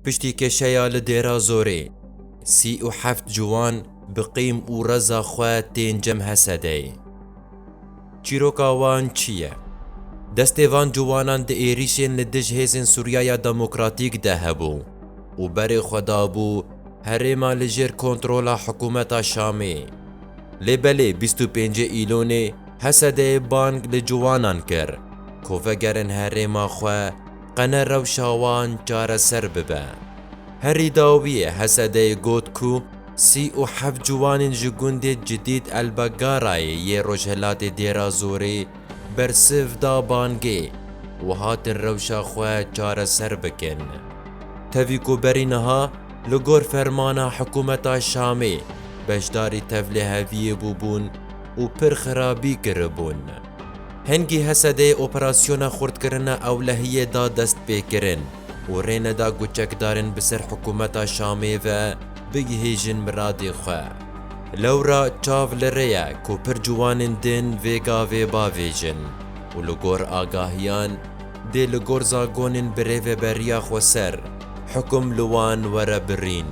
Piştî kêşeya li Dêra Zorê, sî û heft ciwan bi qîm û reza xwe tên Cem Hesedeyê. Çîroka wan çi ye? Destê van ciwanan di êrîşên li dij hêzên Sûriyaya Demokratîk de hebû û berê xwe dabû herêma li jêr kontrola hikûmeta Şamê. Lê belê bîst û pêncê Îlonê Hesedeyê bang li ciwanan kir ku vegerin herêma xwe, qene rewşa wan çareser bibe. Herî dawiyê Hesedeyê got ku sî û heft ciwanên ji gundê Cidîd El Begarayê yê rojhilatê Dêrazorê bersiv da bangê û hatin rewşa xwe çareser bikin. Tevî ku berî niha li gor fermana hikûmeta Şamê beşdarî tevliheviyê bûbûn û pir xirabî kiribûn. Hingî Hesedê operasyona xurtkirina ewlehiyê da destpêkirin û rê neda ku çekdarên bi ser hikûmeta Şamê ve bigihîjin miradê xwe. Lewra çav li rê ye ku pir ciwanên dên vê gavê bavêjin û li gor agahiyan dê li gor zagonên bi rêveberiya xweser hikum li wan were birîn.